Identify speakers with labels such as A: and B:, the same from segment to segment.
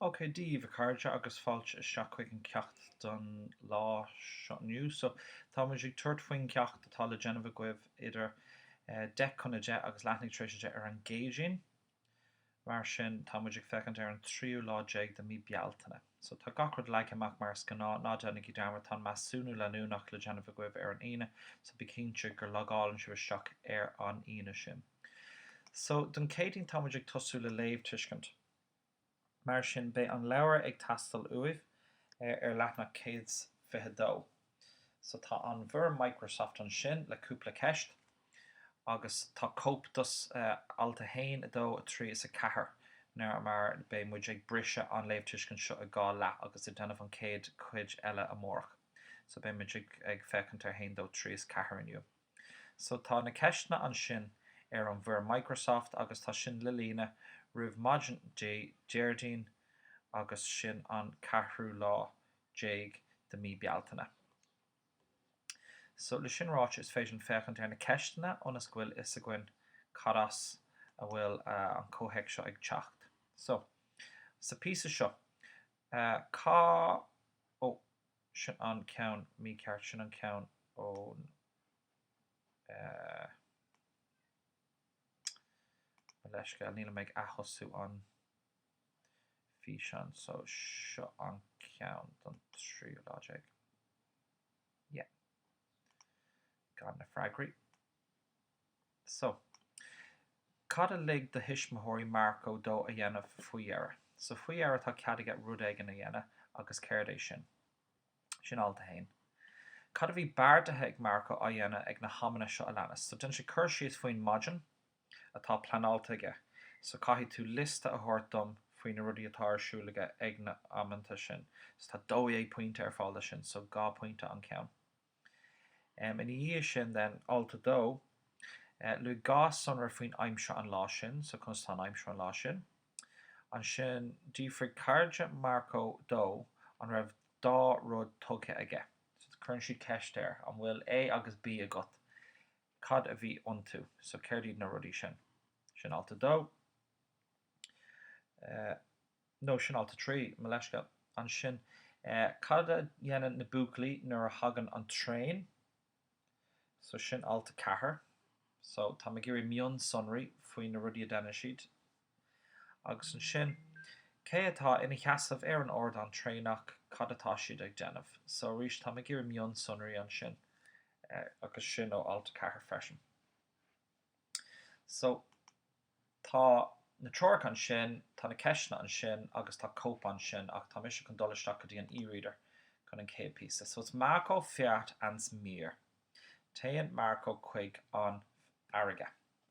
A: OK Dia daoibh, a chairde, agus fáilte isteach chuig an ceacht don lá seo inniu. So, tá muid ag tabhairt faoin gceacht atá le déanamh agaibh idir deich chun a deich agus leathuair tar éis a deich ar an gCéadaoin. Mar sin, tá muid ag féachaint ar an tríú lá déag de mí Bealtaine. So, tá gach rud leagtha amach mar is gnáth. Ná déanaigí dearmad, tá an measúnú leanúnach le déanamh agaibh ar an Aoine, so bí cinnte gur logálann sibh isteach ar an Aoine sin. So, don Céadaoin, tá muid ag tosú le léamh tuiscint. Mar sin, beidh an leabhar ag teastáil uaibh ar leathanach 122. So tá an fhoirm Microsoft ansin le cúpla ceist agus tá cóip de alt 1, 2, 3 is 4 nó mar beidh muid ag briseadh an léamhtuiscint seo i dhá leath agus ag déanamh an chéad chuid eile amárach. So beidh muid ag féachaint ar 1, 2, 3 is 4 inniu. So tá na ceisteanna ansin ar an bhfoirm Microsoft agus tá sin le líonadh roimh maidin Dé Déardaoin agus sin an ceathrú lá déag de mí Bealtaine. So, le sin ráite, is féidir linn féachaint ar na ceisteanna ionas go bhfuil fhios againn cad as a bhfuil an comhthéacs seo ag teacht. So, sa píosa seo, cá, ó, sin an ceann mícheart, sin an ceann ón, eh, mo leithscéal, níl mé ag atosú an. físeán so seo an ceann don tríú lá déag? Yeah. Gan na freagraí. So, cad a lig do thuismitheoirí Marco dó a dhéanamh faoi dheireadh? So, faoi dheireadh tá cead aige rud éigin a dhéanamh agus céard é sin? Sin alt a haon. Cad a bhí beartaithe ag Marco a dhéanamh ag na hamanna seo a leanas? So, déanann sé cur síos faoin maidin. atá pleanáilte aige, so caithfidh tú liosta a thabhairt dom faoi na rudaí atá ar siúl aige ag na hamanna sin. So tá dó dhéag pointe ar fáil do sin, so dhá pointe an ceann. Em, ina dhiaidh sin then, alt a dó, eh, luaigh dhá sonra faoin aimsir an lá sin, so conas atá an aimsir an lá sin. Ansin d'fhiafraigh cairde Marco dó an raibh dhá rud tugtha aige, so cuireann siad ceist air, an bhfuil A agus B agat. cad a bhí iontu. So céard iad na rudaí sin? Sin alt a dó. No, sin alt a trí, mo leithscéal. Ansin, cad a dhéanann na buachaillí nuair a thagann an traein? So sin alt a ceathair. So tá mé ag iarraidh mionsonraí faoi na rudaí a deineann siad. Agus ansin, cé atá ina sheasamh ar an ardán traenach, cad atá siad ag déanamh? So arís, táim ag iarraidh mionsonraí ansin, agus sin ó alt 4 freisin. So, tá na treoracha ansin, tá na ceisteanna ansin, agus tá cóip ansin, ach tá mise chun dul isteach go dtí an e-reader chun an chéad píosa. So it's Marco feat ans mír. Téann Marco chuig an fharraige.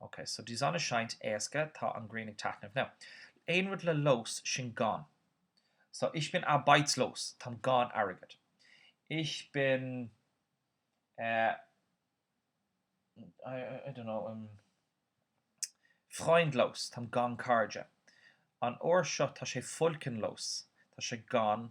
A: ok so die Sonne scheint éasca tá an grian ag taitneamh now aon rud le los sin gan so ich bin arbeitslos táim gan airgead ich bin eh I I don't know freundlos táim gan cairde an uair seo tá sé wolkenlos tá sé gan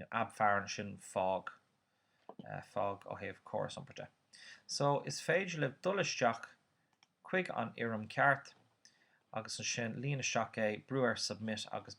A: nó ab fearr ansin fág fág ó thaobh córas iompair de so is féidir libh dul isteach chuig an fhoirm ceart agus ansin líon isteach é, brú ar submit agus.